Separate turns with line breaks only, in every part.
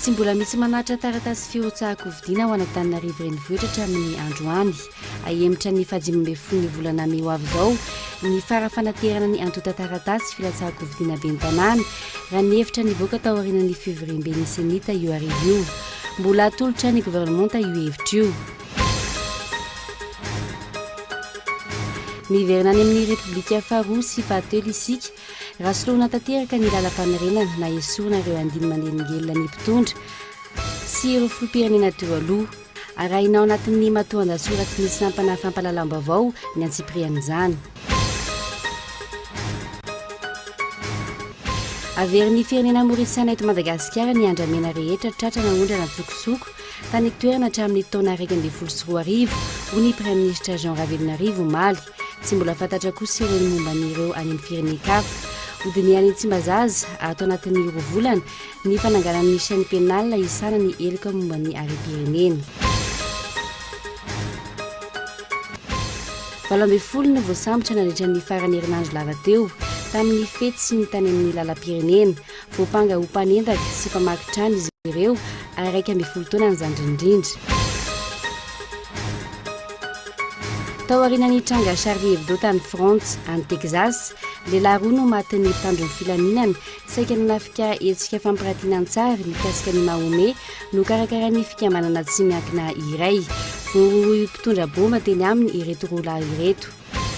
Tsy mbola misy manatitra taratasy firotsahan-kofidiana ao Antananarivo Renivohitra hatramin'ny androany. Hahemotra ny fahadimy ambin'ny folo ny volana mey ho avy izao ny fara fanaterana ny antontan-taratasy filatsahan-kofidiana ben'ny tanàna, raha ny hevitra nivoaka taorian'ny fivoriamben'ny Senita io hariva io. Mbola atolotra ny governemanta io hevitra io. Miverina any amin'ny Repoblika faharoa sy fahatelo isika, raha soloana tanteraka ny lalam-panorenana na esorina ireo andiny manelingelina ny mpitondra sy ireo filoham-pirenena teo aloha. Arahina ao anatin'ny matoandahatsoratry ny sampana fampahalalam-baovao ny antsipirian'izany. Averin'ny firenena Mauriciana eto Madagasikara ny andramena rehetra tratra naondrana an-tsokosoko tany an-toerana hatramin'ny taona iraika ambin'ny folo sy roa arivo, hoy ny Praiminisitra Jean Ravelonarivo omaly. Tsy mbola fantatra kosa ireo momba an'ireo any amin'ny firenen-kafa. Hodinihany Tsimbazaza ato anatin'ny roa volana Ny fananganana ny chaîne pénale nahisana ny heloka momba ny harem-pirenena. Valo ambin'ny folo no voasambotra nandritra ny faran'ny herinandro lava teo tamin'ny fety sy ny tany amin'ny lalam-pirenena. Voampanga ho mpanendaka sy mpamaky trano izy ireo ary iraika ambin'ny folo taona ny zandriny indrindra. Tao aorianan'ny tranga Charlie Hebdo tany Frantsa, any Texas, lehilahy roa no matin'ny mpitandro ny filaminana Saika nanafika hetsika fampiratiana an-tsary mikasika ny Mahomet nokarakarain'ny fikambanana tsy miankina iray. Voarohirohy mpitondra baomba teny aminy ireto roa lahy ireto.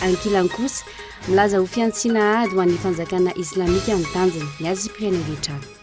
Ankilany kosa, milaza ho fihantsiana ady ho an'ny fanjakana islamika ny tanjony, ny azy Pyrénées des Chats.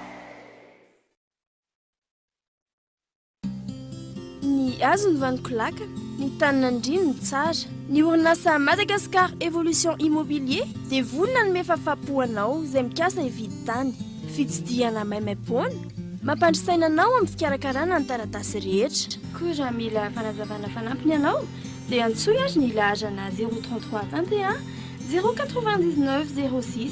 Ny hazo ny vaniko laka, ny tany nandriany ny tsara. Ny orinasa Madagascar Evolution Immobilier dia vory nanome fafapo anao izay mikasa hividy tany. Fitsidihana maimaimpoana mampandry saina anao amin'ny fikarakarana ny taratasy rehetra. Koa raha mila
fanazavana fanampiny ianao dia antsoy ary ny laharana zéro trente trois tantehà zéro quatre-vingt-dix-neuf zéro six.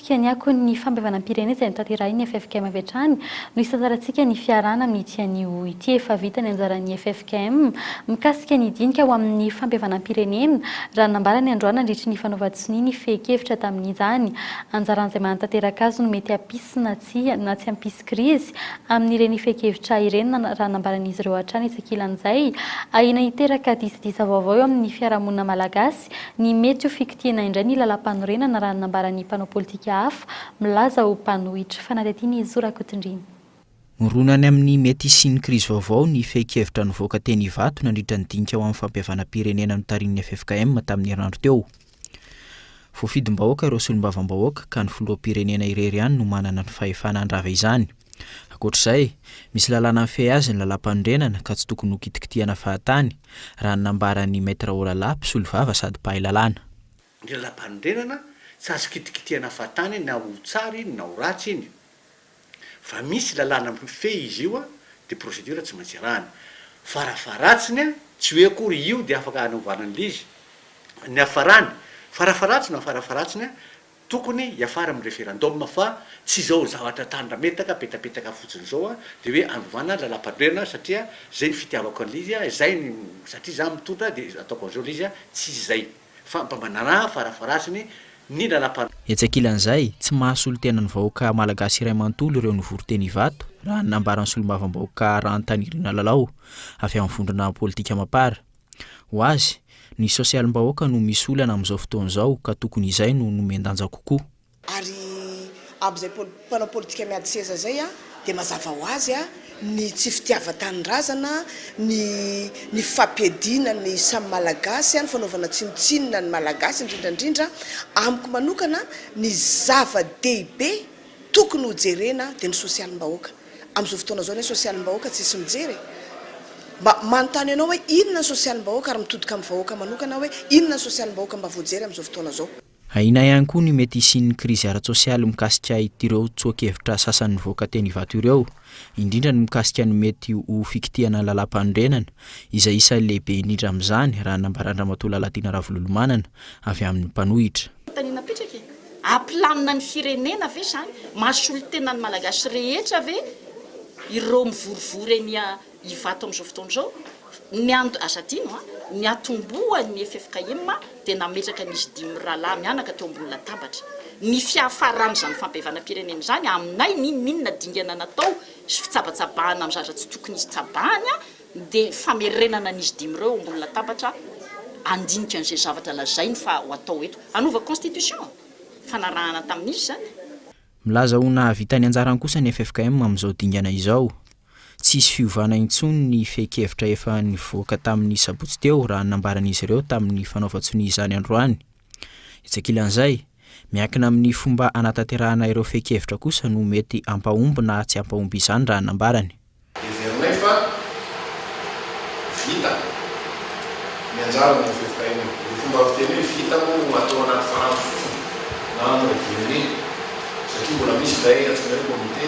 Hianiako ny fampihavanam-pirenena izay notanterahin'ny ffkm avy hatrany no hisantarantsika ny fiarahana amin'ity anio ity efa vita ny anjaran'ny ffkm mikasika ny dinika ho amin'ny fampihavanam-pirenena raha ny nambarany androany nandritry ny fanaovan-tsonia ny fehin-kevitra tamin'izany anjaran'izay manatanteraka azy no mety hampisy na tsy na tsy hampisy krizy amin'ireny fehin-kevitra ireny raha ny nambaran'izy ireo hatrany isakilan'izay ahiana hiteraka disadisa vaovao eo amin'ny fiarahamonina malagasy. Malagasy ny mety ho fikitiana indray ny Lalampanorenana raha ny nambaran'ny mpanao politika hafa milaza ho mpanohitra. Fanadihadian'i Zo Rakotondriana. Mirona
any amin'ny mety hisian'ny krizy vaovao ny fehin-kevitra nivoaka teny Ivato nandritra ny dinika ho amin'ny fampihavanam-pirenena notarihin'ny ffkm tamin'ny herinandro teo. Voafidim-bahoaka ireo solombavambahoaka ka ny filoham-pirenena irery ihany no manana ny fahefana handrava izany. Ankoatra izay, misy lalàna mifehy azy ny lalàmpanorenana ka tsy tokony ho kitikitihana fahatany, raha ny nambaran'i Maître Olala, mpisolovava sady mpahay lalàna. Ny
lalàmpanorenana tsy azo kitikitihana fahatany na ho tsara iny na ho ratsy iny. Fa misy lalàna mifehy izy io, dia procédure tsy maintsy arahana. Farafaharatsiny, tsy hoe akory io dia afaka hanovana an'ilay izy. Ny hafarany, farafaharatsiny no farafaharatsiny, Tokony hiafara amin'ny referendum fa tsy izao zavatra tandrametaka apetapetaka fotsiny izao dia hoe hanovana ny lalam-pandroerana satria izay ny fitiavako an'ilay izy, izay ny satria izaho mitondra dia ataoko an'izao ilay izy, tsy izay fa mba manaraha farafaharasiny ny lalam-. Etsy ankilan'izay, tsy
mahasolo tena ny vahoaka malagasy iray manontolo ireo nivory teny Ivato, raha ny nambaran'ny solombavambahoaka Rahantanirina Lalao, avy amin'ny vondrona politika Mapar. Ho azy, ny sosialim-bahoaka no misy olana amin'izao fotoana izao ka tokony izay no nomen-danja kokoa. Ary
amin'izay mpanao politika miady seza izay dia mazava ho azy ny tsy fitiavan-tanindrazana, ny ny fampiadiana ny samy Malagasy, ny fanaovana tsinontsinona ny Malagasy indrindra indrindra. Amiko manokana ny zava-dehibe Tokony ho jerena dia ny sosialim-bahoaka. Amin'izao fotoana izao ny hoe sosialim-bahoaka tsisy mijery e! Mba manontany anao hoe inona ny sosialim-bahoaka ary mitodika amin'ny vahoaka manokana aho hoe inona ny sosialim-bahoaka mba voajery amin'izao fotoana izao. Ahiana
ihany koa ny mety hisian'ny krizy ara-tsosialy mikasika itireo tsoa-kevitra sasany nivoaka teny Ivato ireo, indrindra ny mikasika ny mety ho fikitihana ny lalàmpanorenana, izay isan'ny lehibe indrindra amin'izany, raha ny nambaran-dRamatoa Lalatiana Ravololomanana, avy amin'ny mpanohitra. Fanontaniana apetraka
e! Hampilamina ny firenena ve izany? Mahasolo tena ny Malagasy rehetra ve ireo mivorivory eny Ivato amin'izao fotoana izao, ny and. Aza adino an, ny atombohan'ny ffkm dia nametraka an'izy dimy mirahalahy mianaka teo ambony latabatra. Ny fiafaran'izany fampihavanam-pirenena izany aminay n'inon'inona dingana natao sy fitsabatsabahana amin'ny zaza tsy tokony hisy tsabahany dia famerenana an'izy dimy ireo eo ambony latabatra handinika an'izay zavatra lazainy fa ho atao eto. Hanova constitution? Fanarahana tamin'iza izany? Milaza ho
nahavita ny anjarany kosa ny ffkm amin'izao dingana izao. Tsy hisy fiovana intsony ny fehin-kevitra efa nivoaka tamin'ny sabotsy teo raha ny nambaran'izy ireo tamin'ny fanaovan-tsonia izany androany. Etsy ankilan'izay, miankina amin'ny fomba hanatanterahana ireo fehin-kevitra kosa no mety hampahomby na tsy hampahomby izany raha ny nambarany. Heverinay fa
vita ny anjarany eo fifitahiana io. Ny fomba fiteny hoe vita moa no atao anaty farango fotsiny na en revue unique satria mbola misy izay antsoina hoe comité.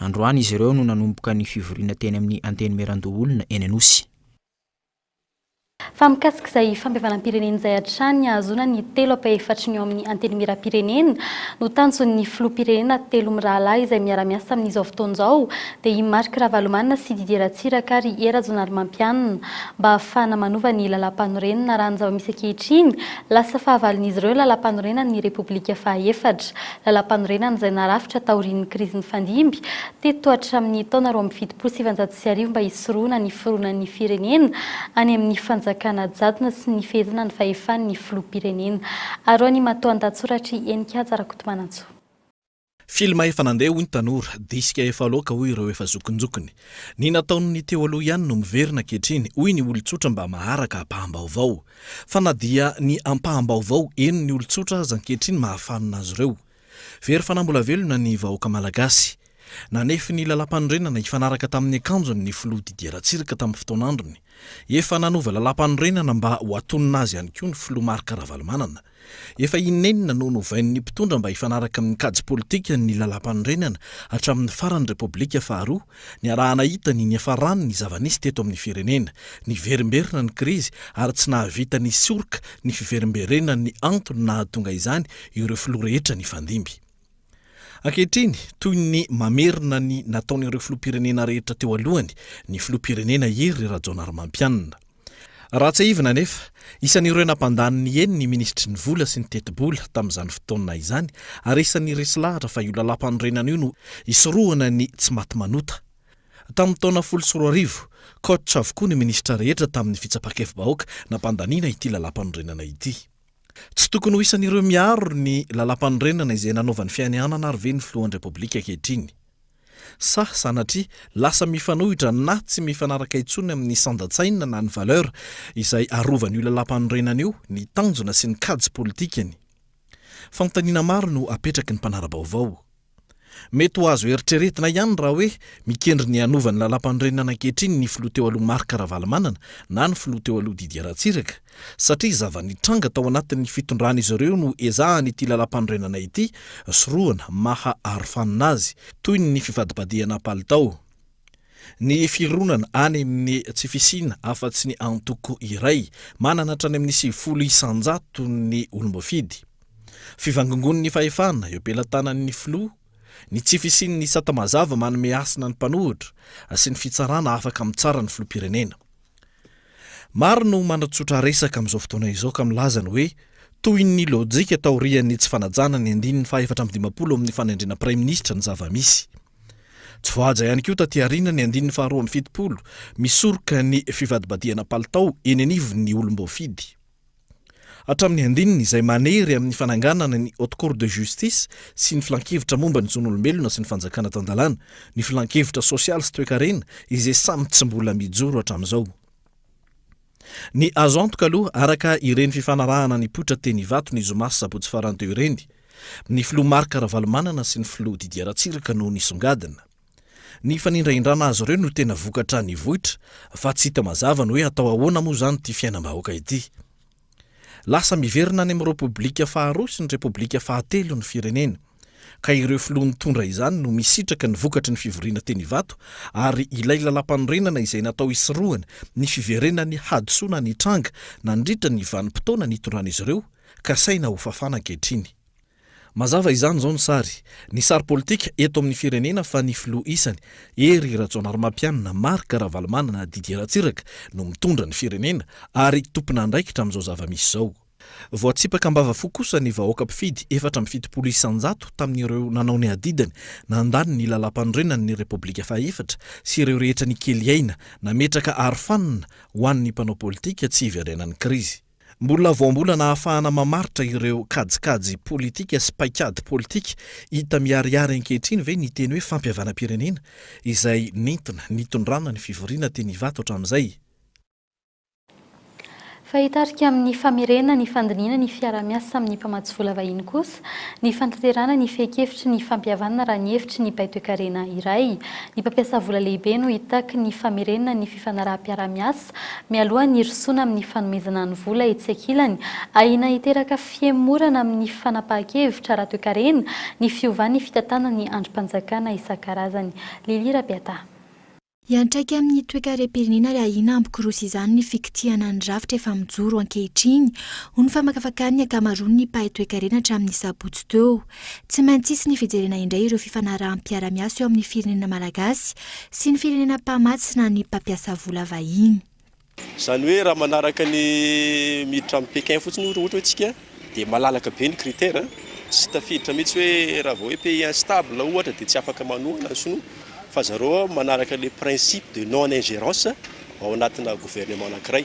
Androany izy ireo no nanomboka ny fivoriana teny amin'ny Antenimierandoholona eny Anosy.
Fa mikasika izay fampihavanam-pirenena izay hatrany hahazoana ny telo ampahefatry ny ao amin'ny Antenimieram-pirenena no tanjon'ny Filoham-pirenena telo mirahalahy izay miara-miasa amin'izao fotoana izao dia i Marc Ravalomanana sy Didier Ratsiraka ary Hery Rajaonarimampianina mba hahafahana manova ny Lalàmpanorenana raha ny zava-misy ankehitriny lasa fahavalon'izy ireo ny Lalàmpanorenan'ny Repoblika fahaefatra Lalampanorenana izay narafitra taorian'ny krizy nifandimby teto hatramin'ny taona roa amby fitopolo sy sivinjato sy arivo mba hisorohana ny fironan'ny firenena any amin'ny fanjakana jadona sy ny fehezana ny fahefan'ny filoham-pirenena. Arao ny matoandahatsoratr'i Heninkaja Rakotomanantsoa.
Filma efa nandeha hoy ny tanora, disika efa loaka hoy ireo efa zokinjokiny. Ny nataon'ny teo aloha ihany no miverina ankehitriny hoy ny olon-tsotra mba maharaka ampaham-baovao. Fa na dia ny ampaham-baovao eny ny olon-tsotra aza ankehitriny mahafanina azy ireo. Very fanambola-velona ny vahoaka malagasy. Nanefy ny Lalàmpanorenana hifanaraka tamin'ny akanjony ny filoha Didier Ratsiraka tamin'ny fotoan'androny. Efa nanova Lalàmpanorenana mba ho atonina azy ihany koa ny filoha Marc Ravalomanana. Efa in'enina no novain'ny mpitondra mba hifanaraka amin'ny kajy politika ny Lalàmpanorenana hatramin'ny faran'ny Repoblika faharoa, niaraha-nahita ny niafaràny ny zava-nisy teto amin'ny firenena. Niverimberina ny krizy ary tsy nahavita nisoroka ny fiverimberenan'ny antony nahatonga izany ireo filoha rehetra nifandimby. Ankehitriny, toy ny mamerina ny nataon'ireo filoham-pirenena rehetra teo alohany, ny filoham-pirenena Hery Rajaonarimampianina. Raha tsiahivina anefa, isan'ireo nampandany ny eny ny minisitry ny Vola sy ny Tetibola tamin'izany fotoana izany ary isan'ny resy lahatra fa io lalàmpanorenana io no hisorohana ny tsy maty manota. Tamin'ny taona folo sy roa arivo, coach avokoa ny minisitra rehetra tamin'ny fitsapa-kevi-bahoaka nampandaniana ity lalàmpanorenana ity. Tsy tokony ho isan'ireo miaro ny Lalàmpanorenana izay nanaovany fianianana ary ve ny Filohan'ny Repoblika ankehitriny? Sa sanatria lasa mifanohitra na tsy mifanaraka intsony amin'ny sandan-tsaina na ny valeur izay arovan'io Lalàmpanorenana io ny tanjona sy ny kajy politikany? Fanontaniana maro no apetraky ny mpanara-baovao. Mety ho azo eritreretina ihany raha hoe mikendry ny hanova ny Lalàmpanorenana ankehitriny ny filoha teo aloha Marc Ravalomanana na ny filoha teo aloha Didier Ratsiraka satria zava-nitranga tao anatin'ny fitondran'izy ireo no ezahan'ity Lalàmpanorenana ity sorohana maha arofanina azy toy ny fifadibadihana palitao Ny fironana any amin'ny tsy fisiana afa-tsy ny antoko iray, manana hatrany amin'ny sivifolo isan-jato ny olom-boafidy. Fivangongoan'ny fahefana eo am-pelatanan'ny filoha, ny tsy fisian'ny sata mazava manome hasina ny mpanohitra, sy ny fitsarana afaka mitsara ny filoham-pirenena. Maro no manatsotra resaka amin'izao fotoana izao ka milaza ny hoe toy ny lojika taorian'ny tsy fanajana ny andininy fahefatra amby dimampolo ao amin'ny fanendrena praiminisitra ny zava-misy. Tsy voahaja ihany koa taty aoriana ny andininy faharoa amby fitopolo misoroka ny fivadibadihana palitao eny anivon'ny olom-boafidy. hatramin'ny andininy izay manery amin'ny fananganana ny Haute Cour de Justice sy ny Filankevitra momba ny Zon'olombelona sy ny Fanjakana Tan-dalàna, ny Filankevitra Sosialy sy Toekarena izay samy tsy mbola mijoro hatramin'izao. Ny azo antoka aloha, araka ireny fifanarahana nipoitra teny Ivato ny zoma sy sabotsy farany teo ireny, ny Filoha Marc Ravalomanana sy ny Filoha Didier Ratsiraka no nisongadina. Ny fanindrahindrana azy ireo no tena vokatra nivoitra fa tsy hita mazava ny hoe atao ahoana moa izany ity fiainam-bahoaka ity. Lasa miverina any amin'ny Repoblika faharoa sy ny Repoblika fahatelo ny firenena, ka ireo filoha nitondra izany no misitraka ny vokatry ny fivoriana teny Ivato ary ilay lalàmpanorenana izay natao hisorohana ny fiverenan'ny hadisoana nitranga nandritra ny vanim-potoana nitondran'izy ireo kasaina hofafana ankehitriny. Mazava izany izao ny sary, ny sary politika eto amin'ny firenena fa ny filoha isany, Hery Rajaonarimampianina, Marc Ravalomanana, Didier Ratsiraka, no mitondra ny firenena ary tompon'andraikitra amin'izao zava-misy izao. Voatsipaka am-bava fo kosa ny vahoaka mpifidy efatra amby fitopolo isan-jato tamin'ireo nanao ny adidiny nandany ny Lalàmpanorenan'ny Repoblika fahaefatra sy ireo rehetra nikely aina nametraka arofanina ho an'ny mpanao politika tsy hiverenan'ny krizy. Mbola voambolana ahafahana mamaritra ireo kajikajy politika sy paikady politika hita miharihary ankehitriny ve ny teny hoe fampihavanam-pirenena izay nentina nitondrana ny fivoriana teny Ivato hatramin'izay?
Fa hitarika amin'ny famerenana ny fandinihana ny fiaraha-miasa amin'ny mpamatsy vola vahiny kosa ny fanatanterahana ny fehin-kevitry ny fampihavanana raha ny hevitry ny baitoekarena iray. Ny mpampiasa vola lehibe no hitaky ny famerenana ny fifanaraham-piaraha-miasa mialoha ny hirosoana amin'ny fanomezana ny vola etsy ankilany, ahiana hiteraka fihemorana amin'ny fanapahan-kevitra ara-toekarena ny fiovan'ny fitantanana ny andrim-panjakana isan-karazany. Lily Rabeataha. Hiantraika
amin'ny toekarem-pirenena ary ahiana hampikorosa izany ny fikitihana ny rafitra efa mijoro ankehitriny, hoy ny famakafakàn'ny ankamaroan'ny mpahay toekarena hatramin'ny sabotsy teo. Tsy maintsy hisy ny fijerena indray ireo fifanaraham-piarahamiasa eo amin'ny firenena malagasy sy ny firenena mpamatsy na ny mpampiasa vola vahiny. Izany hoe
raha manaraka ny miditra amin'i Pékin fotsiny ohatra hoe isika dia malalaka be ny critère, tsy tafiditra mihitsy hoe raha vao hoe pays instable ohatra dia tsy afaka manohana ny sinoa fa zareo manaraka le principe de non ingérence ao anatina gouvernement anankiray.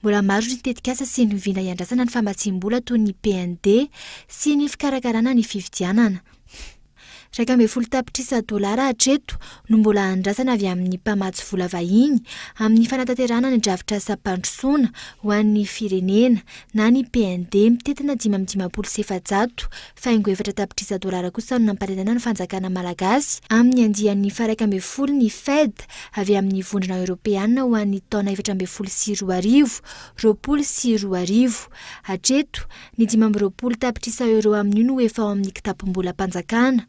Mbola maro ny tetikasa sy ny vina iandrasana ny famatsiam-bola toy ny PND sy ny fikarakarana ny fifidianana. Iraika ambin'ny folo tapitrisa dolara hatreto no mbola andrasana avy amin'ny mpamatsy vola vahiny amin'ny fanatanterahana ny drafitrasam-pandrosoana ho an'ny firenena na ny PND mitentina dimy amby dimampolo sy efajato Faingo efatra tapitrisa dolara kosa no namparenena ny fanjakana malagasy amin'ny andiany faharaika ambin'ny folo ny Fed avy amin'ny Vondrona Eoropeana ho an'ny taona efatra ambin'ny folo sy roa arivo, roapolo sy roa arivo. Hatreto, ny dimy amby roapolo tapitrisa euro amin'io no efa ao amin'ny kitapom-bolam-panjakana.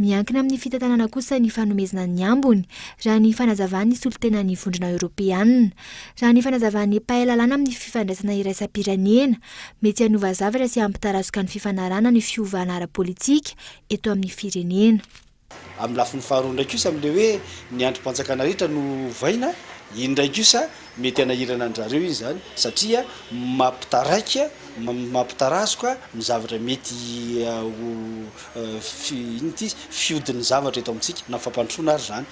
Miankina amin'ny fitantanana kosa ny fanomezana ny ambiny, raha ny fanazavan'ny solontenan'ny Vondrona Eoropeana. Raha ny fanazavan'ny mpahay lalàna amin'ny fifandraisana iraisam-pirenena, Mety hanova zavatra sy hampitarazoka ny fifanarahana ny fiovana ara-politika eto amin'ny firenena. Amin'ny lafiny
faharoa indray kosa amin'ilay hoe ny andrim-panjakana rehetra no ovaina, iny indray kosa mety hanahirana an-dry zareo iny izany satria mampitaraika, mampitarazoka ny zavatra mety ho, inona ity izy, fihodin'ny zavatra eto amintsika na fampandrosoana ary izany.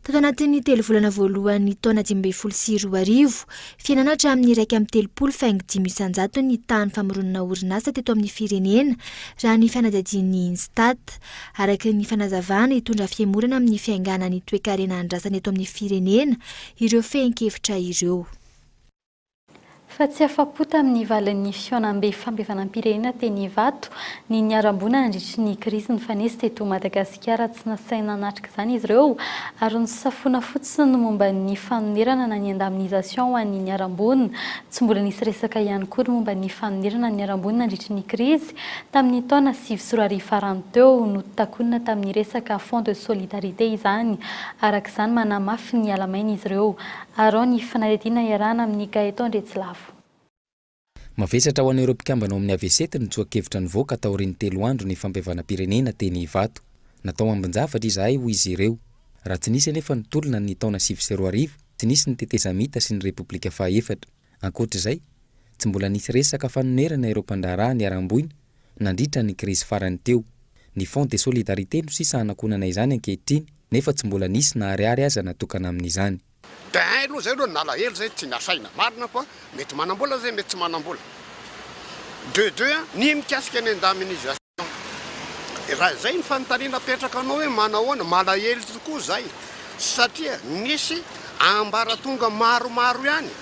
Tato anatin'ny
telo volana voalohan'ny taona dimy ambin'ny folo sy roa arivo, fihenana hatramin'ny iraika amby telopolo faingo dimy isanjato ny tahan'ny famoronana orinasa teto amin'ny firenena, raha ny fanadihadian'ny INSTAT. Araka ny fanazavana, hitondra fihemorana amin'ny fiainganan'ny toekarena andrasana eto amin'ny firenena ireo fehin-kevitra ireo.
Fa tsy afa-po tamin'ny valin'ny fihaonambe fampihavanam-pirenena teny Ivato ny niharam-boina nandritry ny krizy nifanesy teto Madagasikara. Tsy nasaina nanatrika izany izy ireo ary nosafoina fotsiny ny momba ny fanonerana na ny indemnisation ho an'ny niharam-boina. Tsy mbola nisy resaka ihany koa ny momba ny fanonerana ny niharam-boina nandritry ny krizy tamin'ny taona sivy sy roa arivo farany teo. Notakonina tamin'ny resaka fonds de solidarité izany. Araka izany, manamafy ny halamaina izy ireo. Arao ny fanadihadiana iarahana amin'i Gaëtan Retsilafo.
Mavesatra ho an'ireo mpikambana ao amin'ny Avesety ny tsoa-kevitra nivoaka taorian'ny telo andro ny fampihavanam-pirenena teny Ivato. Natao ambin-javatra izahay hoy izy ireo. Raha tsy nisy anefa ny tolona ny taona sivy sy roa arivo, tsy nisy ny tetezamita sy ny Repoblika fahaefatra. Ankoatra izay, tsy mbola nisy resaka fanonerana ireo mpandraharaha niharam-boina nandritra ny krizy farany teo. Ny Fonds de solidarité no sisa hanakonana izany ankehitriny nefa tsy mbola nisy na ariary aza natokana amin'izany. Dia hein aloha
izay aloha ny nalahelo izay tsy nasaina. Marina fa mety manambola izay mety tsy manambola. De deux a, ny mikasika ny indemnisation. Raha izay ny fanontaniana apetraka anao hoe manahoana, malahelo tokoa izay satria nisy ambaratonga maromaro ihany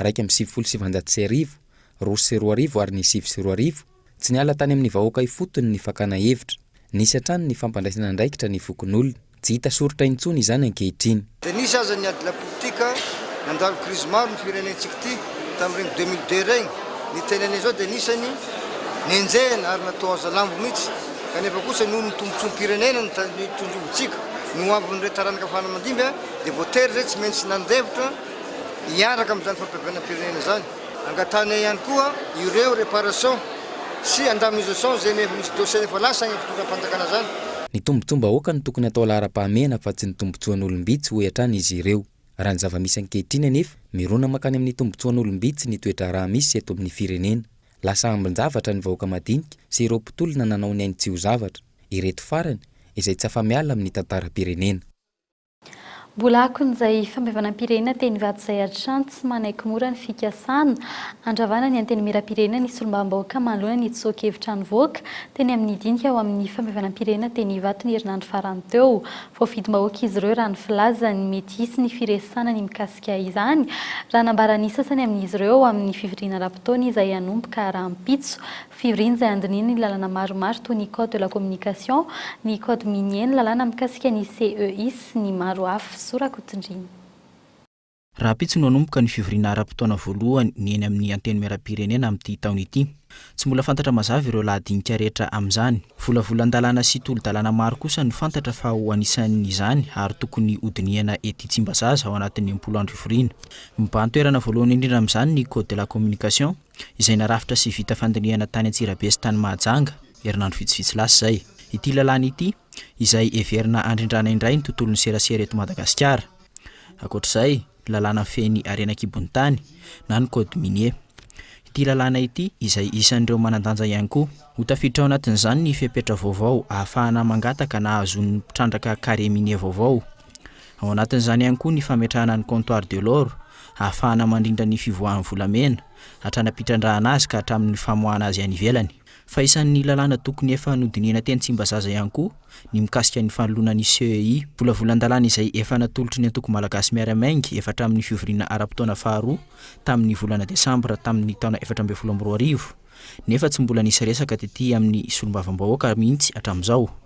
iraika amby sivifolo sy sivinjato sy arivo, roa sy roa arivo ary ny sivy sy roa arivo, tsy niala tany amin'ny vahoaka ifotony ny fakana hevitra. Nisy hatrany ny fampandraisana andraikitra ny fokonolona. Tsy hita soritra intsony izany ankehitriny. Dia nisy aza ny ady
lapolitika, nandalo krizy maro ny firenentsika ity tamin'ireny deux mille deux ireny. Ny tenenina izao dia anisany nenjehina ary natao hazalambo mihitsy, kanefa kosa noho ny tombontsoam-pirenena nitandrovontsika ny ho avin'ireo taranaka fara aman-dimby dia voatery izay tsy maintsy nandefitra, hiaraka amin'izany fampihavanam-pirenena izany. Angatahinay ihany koa ireo réparation sy indemnisation izay efa misy dossier efa lasa any amin'ny fitondram-panjakana izany. Ny tombontsoam-bahoaka
no tokony atao laharam-pahamehana fa tsy ny tombontsoan'olom-bitsy, hoy hatrany izy ireo. Raha ny zava-misy ankehitriny anefa, mirona mankany amin'ny tombontsoan'olom-bitsy ny toe-draharaha misy eto amin'ny firenena. Lasa ambin-javatra ny vahoaka madinika sy ireo mpitolona nanao ny ainy tsy ho zavatra. Ireto farany, izay tsy afa-miala amin'ny tantaram-pirenena.
Mbola akon'izay fampihavanam-pirenena teny Ivato izay hatrany tsy manaiky mora ny fikasana handravana ny Antenimierampirenena ny solombavambahoaka manoloana ny tsoa-kevitra nivoaka teny amin'ny dinika ao amin'ny fampihavanam-pirenena teny Ivato ny herinandro farany teo. Voafidim-bahoaka izy ireo raha ny filazany. Mety hisy ny firesahana ny mikasika izany raha nambaran'ny sasany amin'izy ireo ao amin'ny fivoriana ara-potoana izay hanomboka rahampitso Fivoriana izay handinihina ny lalàna maromaro toy ny Code de la communication, ny Code minier, ny lalàna mikasika ny CEI sy ny maro hafa. Zo Rakotondriana.
Rahampitso no hanomboka ny fivoriana ara-potoana voalohany ny eny amin'ny Antenimierampirenena amin'ity taona ity. Tsy mbola fantatra mazava ireo lahadinika rehetra amin'izany. Volavolan-dalàna sy tolo-dalàna maro kosa no fantatra fa ho anisan'izany ary tokony hodinihana ety Tsimbazaza ao anatin'ny impolo andro fivoriana. Mibahan-toerana voalohany indrindra amin'izany ny Code de la communication. izay narafitra sy vita fandinihana tany Antsirabe sy tany Mahajanga, herinandro vitsivitsy lasa izay. Ity lalàna ity, izay heverina handrindrana indray ny tontolon'ny serasera eto Madagasikara. Ankoatra izay, ny lalàna mifehy ny harena an-kibon'ny tany, na ny Code minier. Ity lalàna ity, izay isan'ireo manan-danja ihany koa. Ho tafiditra ao anatin'izany ny fepetra vaovao ahafahana mangataka na hahazoan'ny mpitrandraka carré minier vaovao. Ao anatin'izany ihany koa ny fametrahana ny comptoir de l'or ahafahana mandrindra ny fivoahan'ny volamena hatrany am-pitrandrahana azy ka hatramin'ny famoahana azy any ivelany. Fa isan'ny lalàna tokony efa nodinihina teny Tsimbazaza ihany koa ny mikasika ny fanoloana ny CEI. Volavolan-dalàna izay efa natolotry ny antoko malagasy Miara-Miainga efa hatramin'ny fivoriana ara-potoana faharoa tamin'ny volana desambra tamin'ny taona efatra ambin'ny folo amby roa arivo nefa tsy mbola nisy resaka tety amin'ny solombavambahoaka mihitsy hatramin'izao.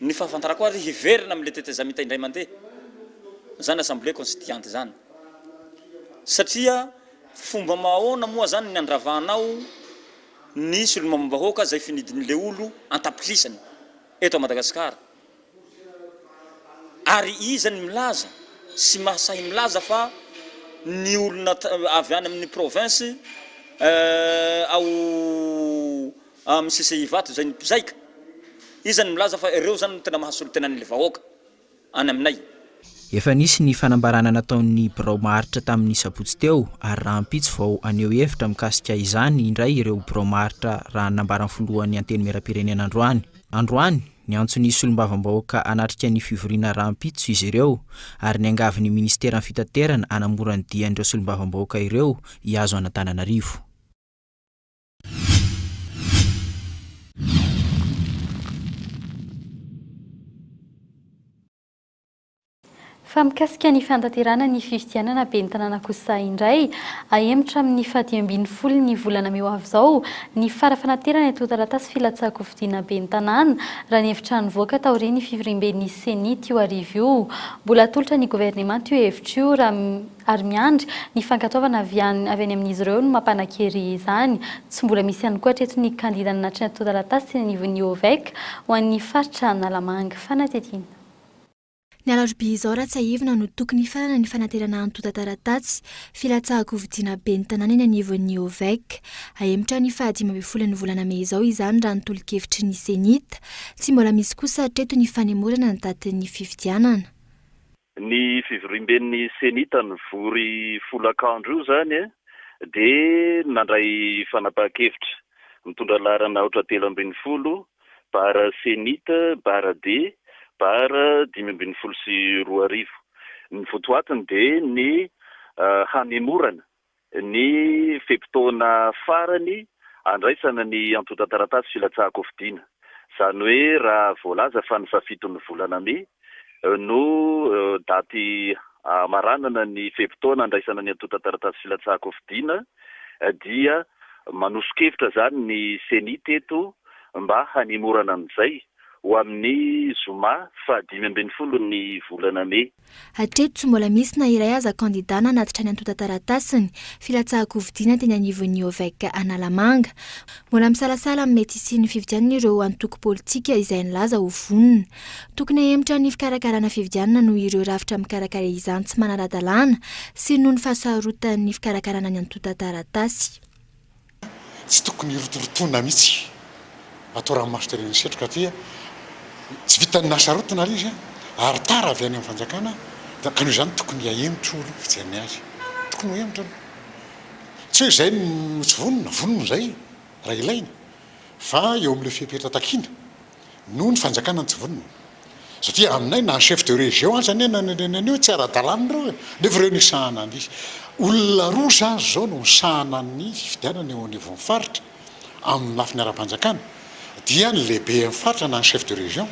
Ny fahafantarako azy, hiverina amin'ilay tetezamita indray mandeha izany Assemblée Constituiante izany. Satria fomba mahaona moa izany ny handravanao ny solombavambahoaka izay finidin'ilay olo an-tapitrisany eto à Madagasikara? Ary iza ny milaza sy mahasahy milaza fa ny olona avy any amin'ny province ao Amin'ny CCI Ivato izay ny mpizaika izany milaza fa ireo izany no tena mahasolo tena an'ilay vahoaka any aminay. Efa nisy
ny fanambarana nataon'ny birao maharitra tamin'ny sabotsy teo ary rahampitso vao haneho hevitra mikasika izany indray ireo birao maharitra raha ny nambaran'ny filohan'ny Antenimierampirenena androany. Androany, niantso ny solombavambahoaka hanatrika ny fivoriana rahampitso izy ireo ary niangavy ny minisiteran'ny fitaterana hanamora ny dian'ireo solombavambahoaka ireo hihazo an'Antananarivo.
Fa mikasika ny fanatanterahana ny fifidianana ben'ny tanàna kosa indray, ahemotra amin'ny fahadimy ambin'ny folon'ny volana mey ho avy izao ny fara fanaterana ito taratasy filatsahan-kofidiana ben'ny tanàna, raha ny hevitra nivoaka taorian'ny fivoriamben'ny Ceni teo hariva io. Mbola atolotra ny governemanta io hevitra io raha. ary miandry ny fankatoavana avy any avy any amin'izy ireo no mampanan-kery izany. Tsy mbola misy ihany koa hatreto ny kandida nanatry ny antontan-taratasy teny anivon'ny OVEC ho an'ny faritra Analamanga. Fanadihadiana.
Ny alarobia izao raha tsiahivina no tokony hifarana ny fanaterana antontan-taratasy filatsahan-kofidiana ben'ny tanàna eny anivon'ny OVEC. Hahemotra ny faha dimy ambin'ny folon'ny volana mey izao izany raha ny tolo-kevitry ny Cenit. Tsy mbola misy kosa hatreto ny fanemorana ny datin'ny fifidianana. Ny
fivoriamben'ny Cenit nivory folakandro io izany dia nandray fanapahan-kevitra mitondra laharana aotra telo ambin'ny folo, barra Cenit, barra D, barra dimy ambin'ny folo sy roa arivo. Ny votoatiny dia ny hanemorana Ny fe-potoana farany andraisana ny antontan-taratasy filatsahan-kofidina. Izany hoe raha voalaza fa ny fahafiton'ny volana mey no daty hamaranana ny fe-potoana andraisana ny antontan-taratasy filatsahan-kofidina dia manoso-kevitra izany ny Ceni teto mba hanemorana an'izay ho amin'ny zoma fahadimy ambin'ny folo ny volana mey. Hatreto tsy mbola
misy na iray aza kandida nanatitra ny antontan-taratasiny filatsahan-kofidiana teny anivon'ny OVEC Analamanga. Mbola misalasala amin'ny mety hisian'ny fifidianana ireo antoko politika izay nilaza ho vonona. Tokony hahemotra ny fikarakarana fifidianana noho ireo rafitra mikarakara izany tsy manara-dalàna sy noho ny fahasarotan'ny fikarakarana ny antontan-taratasy.
Tsy tokony hirotorotoana mihitsy atao ranomaso tery amin'ny setroka aty a! Tsy vitan'ny nahasarotina ilay izy a! Ary tara avy any amin'ny fanjakana a! Ka noho izany tokony hahemotra io aloha ny fijery ny azy. Tokony ho hemotra aloha. Tsy hoe izay no tsy vonona, vonona izay raha ilaina. Fa eo amin'ilay fepetra takiana noho ny fanjakana ny tsy vonona satria aminay na ny chef de région aza anie nanenenena an'io hoe tsy ara-dalàna ireo e! nefa ireo nisahana ny olona roa izany izao no misahana ny fifidianana eo anivon'ny faritra amin'ny lafiny ara-panjakana dia ny lehiben'ny faritra na ny chef de région.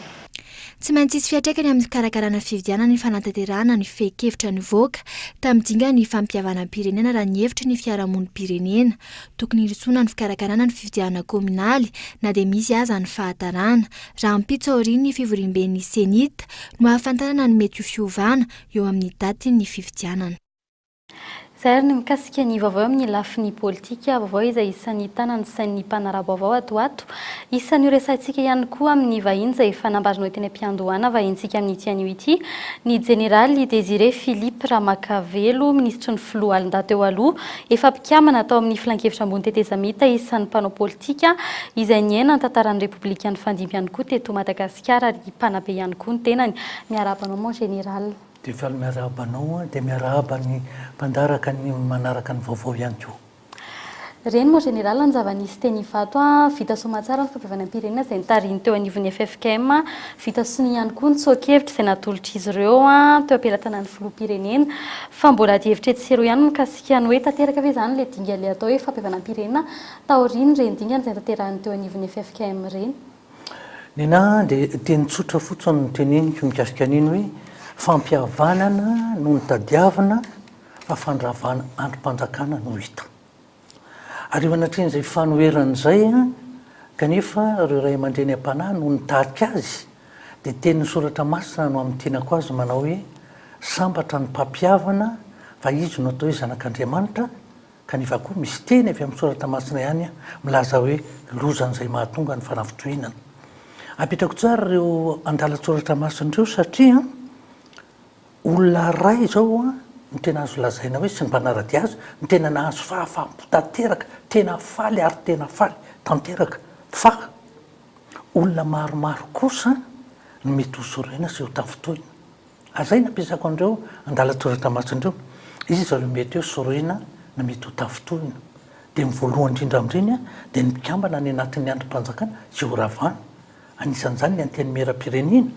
Tsy maintsy
hisy fiantraikany amin'ny fikarakarana fifidianana ny fanatanterahana ny fehin-kevitra nivoaka tamin'ny dingan'ny fampihavanam-pirenena raha ny hevitry ny fiarahamonim-pirenena. Tokony hirosoana ny fikarakarana ny fifidianana kaominaly na dia misy aza ny fahatarana. Rahampitso aorian'ny fivoriamben'ny Cenit no hahafantarana ny mety ho fiovana eo amin'ny datin'ny fifidianana.
Izay ary ny mikasika ny vaovao eo amin'ny lafiny politika, vaovao izay isan'ny tana ny sain'ny mpanara-baovao ato ho ato. Isan'io resahintsika ihany koa amin'ny vahiny izay efa nambaranao teny am-piandohana vahintsika amin'ity anio ity, ny Jeneraly Désiré Philippe Ramakavelo, minisitry ny Filoha Alindahy teo aloha. Efa. Mpikambana tao amin'ny Filankevitra Ambony Tetezamita isan'ny mpanao politika izay niaina ny tantaran'ny Repoblikan'ny Fandimby ihany koa teto Madagasikara ary mpanabe ihany koa ny tenany. Miarahaba anao mon Général. Dia faly miarahaba
anao aho, dia miarahaba ny mpandaraka ny manaraka ny vaovao ihany koa. Reny
mon Général ny zava-nisy teny Ivato, vita soa aman-tsara ny fampiovainam-pirenena izay notarihiny teo anivon'ny ffkm, vita soa ihany koa ny tsoa-kevitra izay natolotr'izy ireo teo am-pelatanan'ny Filoham-pirenena, fa mbola adihevitra etsy sy eroa ihany mikasika. Kiany hoe tanteraka ve izany ilay dingana ilay atao hoe fampihavanam-pirenena taorian'ireny dingana izay notanterahiny teo anivon'ny ffkm ireny? Nina,
dia teny tsotra fotsiny no teneniko mikasika an'iny hoe fampihavanana no notadiavina fa fandravana andrim-panjakana no hita. Ary eo anatrehan'izay fanoherana izay kanefa ireo ray aman-dreny am-panahy no nitarika azy Dia teny ny soratra masina no hamintinako azy manao hoe, Sambatra ny mpampihavana fa izy no atao hoe zanak'Andriamanitra, kanefa koa misy teny avy amin'ny soratra masina ihany milaza hoe loza an'izay mahatonga ny fanafitohinana. Apetrako tsara ireo andalan-tsoratra masina ireo satria olona iray izao no tena azo lazaina hoe sy ny mpanara-dia azy no tena nahazo fahafaham-po tanteraka, tena faly ary tena faly tanteraka fa, Olona maromaro kosa no mety ho sorena sy ho tafintohina. Azay nampiasako an'ireo andalan-tsoratra masina ireo. Iza ireo mety hoe sorena na mety ho tafintohina? Dia ny voalohany indrindra amin'ireny dia ny mpikambana any anatin'ny andrim-panjakana izay ho ravana. Anisan'izany ny Antenimierampirenena,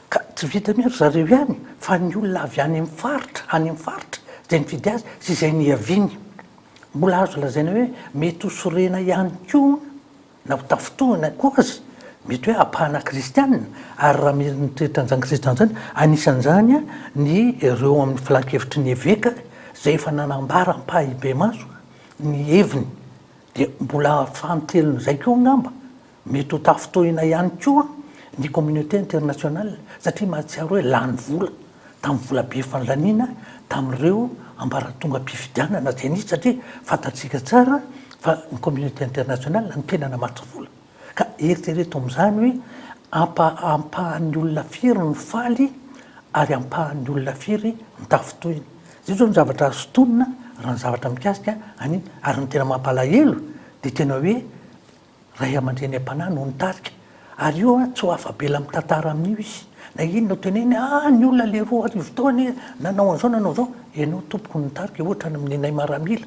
ka tsy vitan'ny hoe ry zareo ihany fa ny olona avy any amin'ny faritra, any amin'ny faritra izay nifidy azy sy izay nihaviany. Mbola azo lazaina hoe mety ho sorena ihany koa. Na ho tafintohina koa aza, mety hoe ampahana kristiana ary raha mila ny toetra an'izany kristiana izany, anisan'izany ny ireo amin'ny filankevitry ny eveka izay efa nanambara ampahibemaso ny heviny, dia mbola fanintelon'izay koa angamba, mety ho tafintohina ihany koa ny communauté internationale satria mahatsiaro hoe lany vola. tamin'ny vola be fanilaniana tamin'ireo ambaratongam-pifidianana izay nisy satria fantatsika tsara fa ny communauté internationale no tena namatsy vola ka eritrereto amin'izany hoe ampa ampahan'ny olona firy no faly ary ampahan'ny olona firy no tafintohina izay zao ny zavatra azo tonina raha ny zavatra mikasika an'iny ary ny tena mampalahelo dia tena hoe Ray aman-dreny am-panahy no nitarika ary io an tsy ho afa-bela mitantara amin'io izy. Na inona ho teneniny, ah ny olona le roa arivo teo anie nanao an'izao nanao izao, ianao tompoko no nitarika ohatra ny amin'ny nenay maramila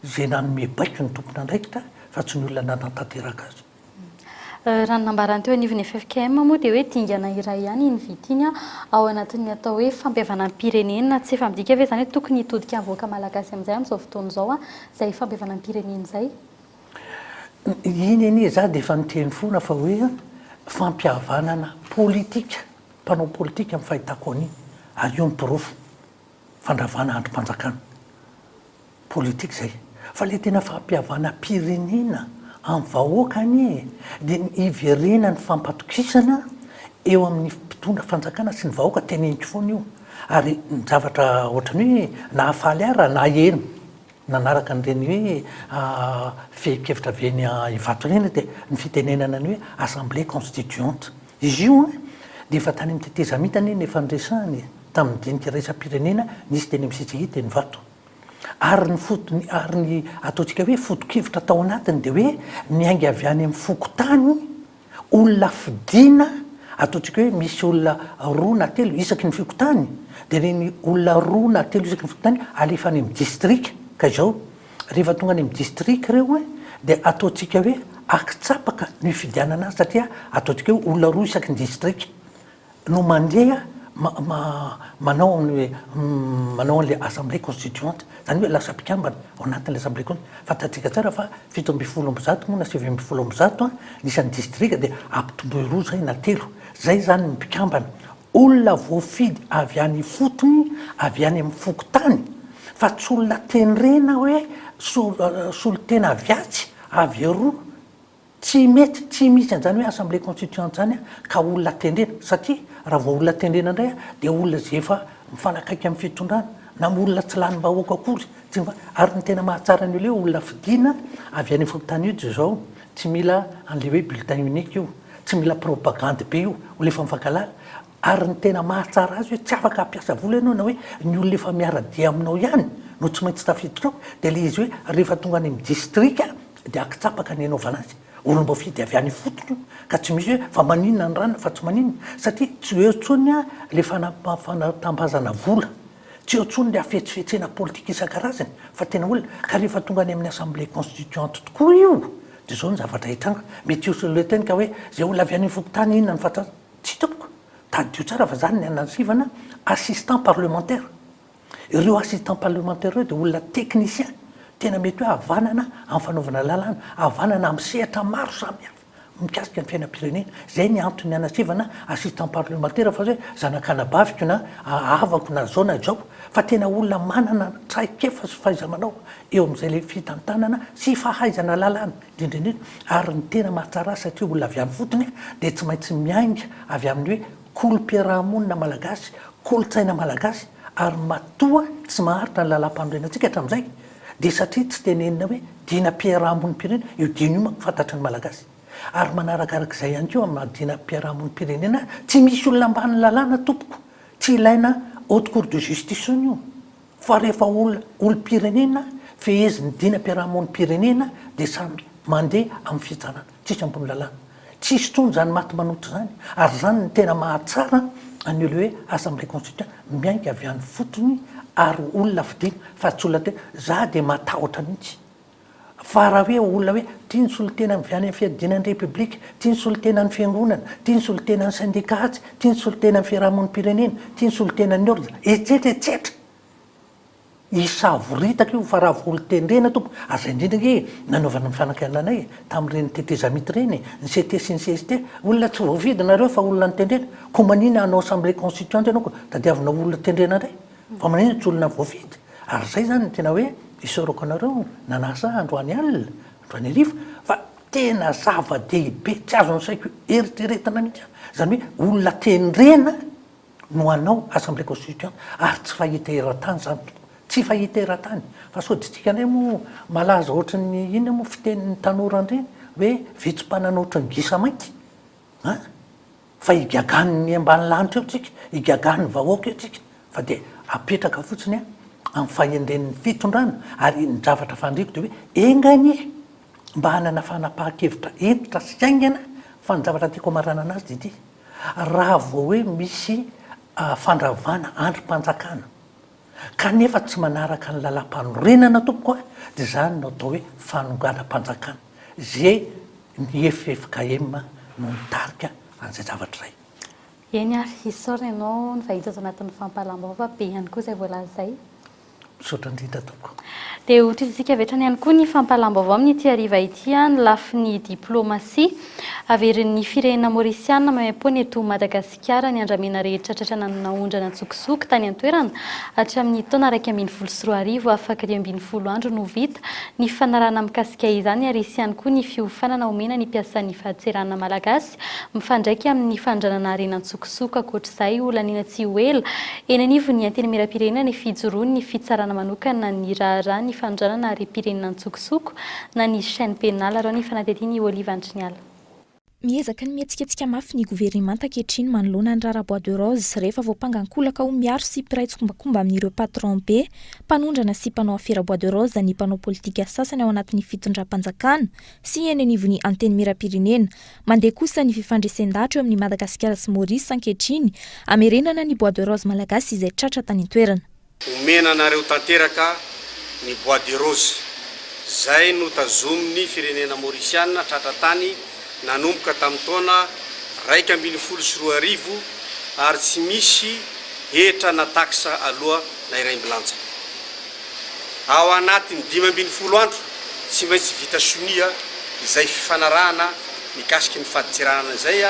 izay nanome baiko ny tompon'andraikitra fa tsy ny olona nanatanteraka azy. Raha
ny nambarany teo anivon'ny ffkm moa dia hoe dingana iray ihany iny vita iny ao anatin'ny atao hoe fampihavanam-pirenena, tsy efa midika ve izany hoe tokony hitodika ny vahoaka malagasy amin'izay amin'izao fotoana izao izay fampihavanam-pirenena izay?
Iny anie za dia efa niteny foana fa hoe fampihavanana politika, mpanao politika ny fahitako an'iny ary io ny porofo fandravana andrim-panjakana. Politika izay. Fa ilay tena fampihavanam-pirenena amin'ny vahoaka anie dia ny hiverenan'ny fampatokisana eo amin'ny mpitondra fanjakana sy ny vahoaka, teneniko foana io ary ny zavatra ohatran'ny hoe nahafaly ahy raha naheno. Nanaraka an'ireny hoe fehin-kevitra avy eny Ivato ireny dia ny fitenenana ny hoe Assemblée constituante. Izy io dia efa tany amin'ny tetezamita anie no efa niresahana e! Tamin'ny dinika iraisam-pirenena nisy teny amin'ny CCI teny Ivato. Ary ny fotony, ary ny ataontsika hoe foto-kevitra tao anatiny dia hoe miainga avy any amin'ny fokontany, olona fidiana ataontsika hoe misy olona roa na telo isaky ny fikontany dia ireny olona roa na telo isaky ny fikontany alefa any amin'ny distrika ka izao rehefa tonga any amin'ny distrika ireo a dia ataontsika hoe akitsapaka ny fifidianana azy satria ataontsika hoe olona roa isaky ny distrika no mandeha manao ny hoe manao an'ilay assemblée constituante, izany hoe lasa mpikambana ao anatin'ilay assemblée constituante. Fantatsika tsara fa fito ambin'ny folo amby zato moa na sivy ambin'ny folo amby zato ny isan'ny distrika dia ampitomboy roa izay na telo. Izay izany ny mpikambana. Olona voafidy avy any ifotony, avy any amin'ny fokontany fa tsy olona tenrena hoe solon-tena avy atsy, avy eroa. Tsy mety, tsy misy an'izany hoe assemblée constituante izany ka olona tendrena satria raha vao olona tendrena indray dia olona izay efa mifanakaiky amin'ny fitondrana na olona tsy lanim-bahoaka akory, ary ny tena mahatsara ny olona eo olona fidiana avy any fokontany io izao tsy mila an'ilay hoe bulletin unique io, tsy mila propagandy be io, olona efa mifankalala. Ary ny tena mahatsara azy hoe tsy afaka hampiasa vola ianao na hoe ny olona efa miara-dia aminao ihany no tsy maintsy tafiditra ao dia ilay izy hoe rehefa tonga any amin'ny distrika dia akitsapaka ny anaovana azy. Olom-boafidy avy any ifotony io ka tsy misy hoe fa maninona ny ranona fa tsy maninona satria tsy eo intsony ilay fanatambazana vola, tsy eo intsony ilay hafetsifetsena politika isan-karazany fa tena olona. Ka rehefa tonga any amin'ny assemblée constituante tokoa io dia izao ny zavatra hitranga. Mety ho solointeniko hoe izay olona avy any ifokontany inona no fatratra? Tsia tompoko, tadidio tsara fa zany ny anan'i Sivana, assistant parlementaire. Ireo assistant parlementaire ireo dia olona technicien, tena mety hoe havanana amin'ny fanaovana lalàna, havanana amin'ny sehatra maro samihafa mikasika ny fiainam-pirenena. Izay ny antony ny anan'i Sivana assistant parlementaire fa tsy hoe zanak'anabaviko na havako na izao na izao, fa tena olona manana traikefa sy fahaiza-manao eo amin'izay fitantanana sy fahaizana lalàna. Indrindra indrindra, ary ny tena mahatsara azy satria olona avy any fotony, dia tsy maintsy miainga avy amin'ny hoe kolom-piarahamonina malagasy, kolontsaina malagasy, ary matoa tsy maharitra ny lalàmpanorenantsika hatramin'izay, dia satria tsy tenenina hoe dinam-piarahamonim-pirenena, io diana io manko fantatry ny malagasy. Ary manarakaraka izay ihany koa amin'ny maha dinam-piarahamonim-pirenena azy, tsy misy olona ambanin'ny lalàna tompoko, tsy ilaina haute cour de justice intsony io. Fa rehefa olona olom-pirenena fehezin'ny dinam-piarahamonim-pirenena dia samy mandeha amin'ny fitsarana, tsisy ambony lalàna. Tsy hisy intsony izany maty manota izany ary izany no tena mahatsara an'io ilay hoe assemblée constituante miainga avy any fotony ary olona fidiana fa tsy olona tena, za dia matahotra mihitsy Fa raha hoe olona hoe tia ny solontena avy any amin'ny fiadiana ny Repoblika, tia ny solontena ny Fiangonana, tia ny solontena ny Sendika atsy, tia ny solontena ny fiarahamonim-pirenena, tia ny solontena ny ordra, etsetra etsetra. Hisavoritaka io fa raha vao olon-tendrena tompoko, aza indrindra ange e, nanaovana ny fanakianana e, tamin'ireny tetezamita ireny e, ny CT sy ny CST, olona tsy voafidy nareo fa olona notendrena, koa manina hanao assemblée constituante ianao koa tadiavina ho olona tendrena indray? Fa manaiza tsy olona voafidy ary izay izany no tena hoe isaorako anareo nanasa ahy androany alina, androany hariva fa tena zava-dehibe tsy azon'ny saiko eritreretina mihitsy aho, izany hoe olona tendrena no hanao assemblée constituante ary tsy fahita eran-tany izany tompoko, tsy fahita eran-tany fa sodintsika indray moa malaza ohatry ny inona moa fitenin'ny tanora andreny hoe vitsy mpanana ohatry ny gisa mainty an! Fa higagan ny ambany lanitra eo tsika, higagan ny vahoaka eo tsika, fa dia apetraka fotsiny amin'ny fahendren ny fitondrana, ary ny zavatra fandriko dia hoe enga anie mba hanana fanapahan-kevitra hentitra sy haingana, fa ny zavatra tiako hamaranana azy dia ity, raha vao hoe misy fandravana andrim-panjakana, Kanefa tsy manaraka ny lalam-panorenana tompoko a! Dia izany no atao hoe fanonganam-panjakana ze ny ffkm no mitarika an'izay zavatra izay. Eny ary,
isaorana ianao nivahiny tato anatin'ny fampahalam-baovao fa be ihany koa izay voalaza izay. Misaotra
indrindra tompoko. Dia ho tohizintsika
avy hatrany ihany koa ny fampahalam-baovao amin'ity hariva ity ny lafiny diplaomasia averin'ny firenena Maorisiana maimaim-poana eto Madagasikara. Kiara ny andramena rehetra tratrana ny naondrana an-tsokosoko tany an-toerana. Hatramin'ny taona iraika ambin'ny folo sy roa arivo, afaka dimy ambin'ny folo andro no vita ny fanarahana mikasika izany ary hisy ihany koa ny fiofanana omena ny mpiasan'ny fahatserana malagasy mifandraika amin'ny fanondranana harena an-tsokosoko. Ankoatra izay, holaniana tsy ho ela eny anivon'ny Antenimierampirenena ny fijoroan'ny fitsarana manokana ny raharaha ny fanondranana harem-pirenena an-tsokosoko na ny chaine pénale, raha ny fanadihadian'i Olive Andriniala. Miezaka
ny mihetsiketsika mafy ny governemanta ankehitriny manoloana ny raharaha bois de rose rehefa voampanga an-kolaka ho miaro sy mpiray tsikombakomba amin'ireo patron be mpanondrana sy mpanao afera bois de rose ny mpanao politika sasany ao anatin'ny fitondram-panjakana sy eny anivon'ny Antenimierampirenena. Mandeha kosa ny fifandresen-dahatra eo amin'i Madagasikara sy Maurice ankehitriny hamerenana ny bois de rose malagasy izay tratra tany an-toerana. Omena anareo
tanteraka ny bois de rose izay notazomin'ny firenena Maurisiana tratra tany nanomboka tamin'ny taona iraika ambin'ny folo sy roa arivo ary tsy misy hetra na taxe aloa na iray mbilanja. Ao anatin'ny dimy ambin'ny folo andro tsy maintsy vita sonia izay fifanarahana mikasiky ny fadintseranana izay.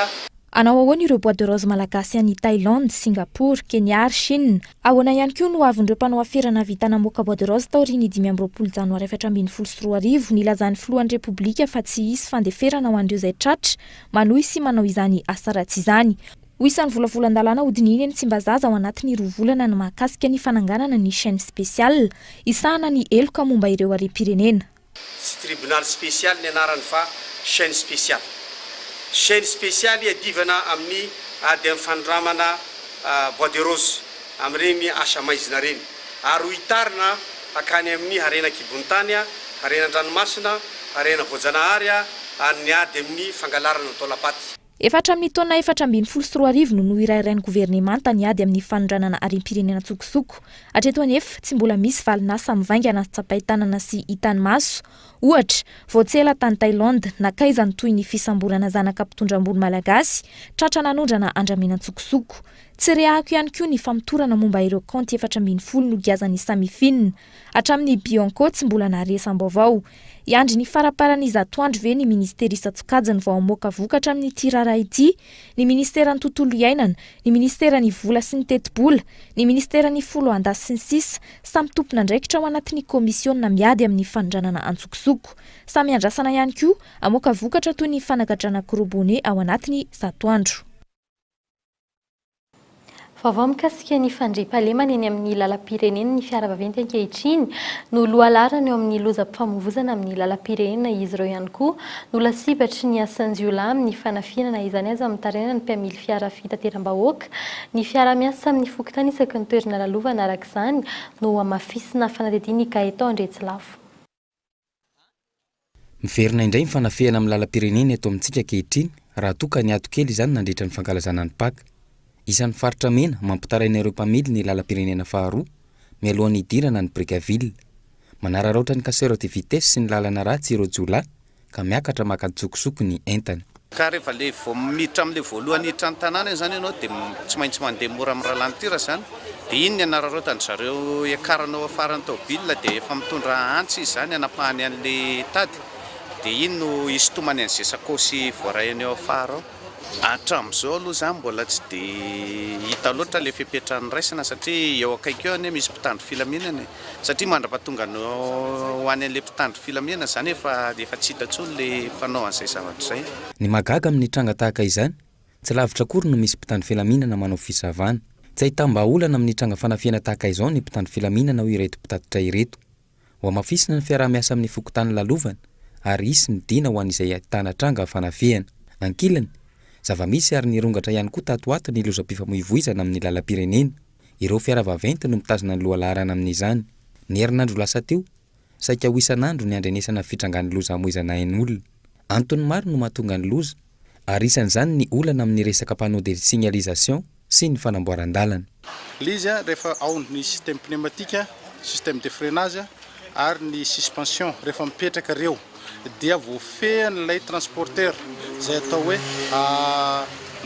Hanao ahoana ireo
bois de rose malagasy any Thailand, Singapour, Kenya ary Chine? Ahoana ihany koa no ho avin'ireo mpanao afera nahavita namoaka bois de rose taorian'ny dimy amby roapolo janoary efatra ambin'ny folo sy roa arivo nilazan'ny filohan'ny Repoblika fa tsy hisy fandeferana ho an'ireo izay tratra manohy sy manao izany asa ratsy izany? Ho isan'ny volavolan-dalàna hodinihina eny Tsimbazaza ao anatin'ny roa volana ny mahakasika ny fananganana ny Chaîne Spéciale hisahana ny heloka momba ireo harem-pirenena. Tsy tribonaly
spesialy ny anarany fa chaine spesialy. Chaine spesialy iadivana amin'ny ady amin'ny fanondramana bois de rose amin'ireny asa maizina ireny ary ho itarina hankany amin'ny harena an-kibon'ny tany, harena an-dranomasina, harena voajanahary ary ny ady amin'ny fangalarana ny taolam-paty. Efa hatramin'ny taona
efatra ambin'ny folo sy roa arivo no nohirairain'ny governemanta ny ady amin'ny fanondranana harem-pirenena an-tsokosoko. Hatreto anefa, tsy mbola misy valin'asa mivaingana tsapain-tanana sy hitan'ny maso. Ohatra, vao tsy ela tany Thaïlande, nankaiza ny tohin'ny fisamborana zanaka mpitondra ambony malagasy tratra nanondrana andramena an-tsokosoko. Tsy rehahako ihany koa ny famotorana momba ireo kaonty efatra ambin'ny folo nogiazan'ny Samifin. Hatramin'ny Bianco tsy mbola naharesam-baovao. Hiandry ny faraparan'izato andro ve ny ministera isan-tsokajiny vao hamoaka vokatra amin'ity raharaha ity? Ny ministeran'ny tontolo iainana, ny ministeran'ny vola sy ny tetibola, ny ministeran'ny foloalindahy sy ny sisa Samy tompon'andraikitra ao anatin'ny kaomisiona miady amin'ny fanondranana antsokosoko. Samy iandrasana ihany koa hamoaka vokatra toy ny fanagadrana gros bonnet ao anatiny zato andro.
Vaovao mikasika ny fandriampahalemana eny amin'ny lalam-pirenena ny fiara vaventy ankehitriny no lohalaharana eo amin'ny lozam-pifamoivoizana amin'ny lalam-pirenena. Izy ireo ihany koa no lasibatry ny asan-jiolahy amin'ny fanafihana na izany aza mitaraina ny mpiamily fiara fitateram-bahoaka ny fiaraha-miasa amin'ny fokontany isaky ny toerana lalovana. Araka izany no hamafisina fanadihadiana i Gaëtan Andriatsilavo.
Miverina indray ny fanafihana amin'ny lalam-pirenena eto amintsika ankehitriny raha toa ka niato kely izany nandritra ny fankalazana ny Paka. Isan'ny faritra mena mampitaraina ireo mpamily ny lalam-pirenena faharoa mialohan'ny hidirana ny Brickaville. Manararaotra ny casseurs de vitesse sy ny lalana ratsy ireo jiolahy Ka miakatra maka an-tsokosoko ny entany. Ka rehefa ilay vao
miditra amin'ilay voalohany hiditra ny tanàna iny izany ianao dia tsy maintsy mandeha mora amin'ny ralentira izany dia iny ny hanararaotan-dry zareo hiakarana ao afaran'ny taobilina dia efa mitondra antsy izy izany hanapahany an'ilay tady dia iny no hisintomany an'izay sakaosy voaraiany ao afara ao. Hatramin'izao aloha izany mbola tsy dia hita loatra ilay fepetra niraisana satria eo akaiky eo anie misy mpitandro filaminana e! satria mandrapatonga ny ho any an'ilay mpitandro filaminana izany efa efa tsy hita intsony ilay mpanao an'izay zavatra izay. Ny mahagaga amin'ny
tranga tahaka izany, tsy lavitra akory no misy mpitandro filaminana manao fisavana. Tsy ahitam-bahaolana amin'ny tranga fanafihana tahaka izao ny mpitandro filaminana hoy ireto mpitatitra ireto. Hohamafisina ny fiaraha-miasa amin'ny fokontany lalovana ary hisy ny dina ho an'izay ahitana tranga fanafihana. Ankilany, zava-misy ary nirongatra ihany koa tato ho ato ny lozam-pifamoivoizana amin'ny lalam-pirenena. Ireo fiara vaventy no mitazona ny lohalaharana amin'izany. Ny herinandro lasa teo, saika ho isan'andro ny andrenesana fitrangan'ny loza hamoizana ain'olona. Antony maro no mahatonga ny loza. ary isan'izany ny olana amin'ny resaka panneau de signalisation sy ny fanamboaran-dalana. Ilay izy
rehefa ao ny système pneumatique, système de freinage ary ny suspension rehefa mipetraka ireo dia voafehin'ilay transporteur izay atao hoe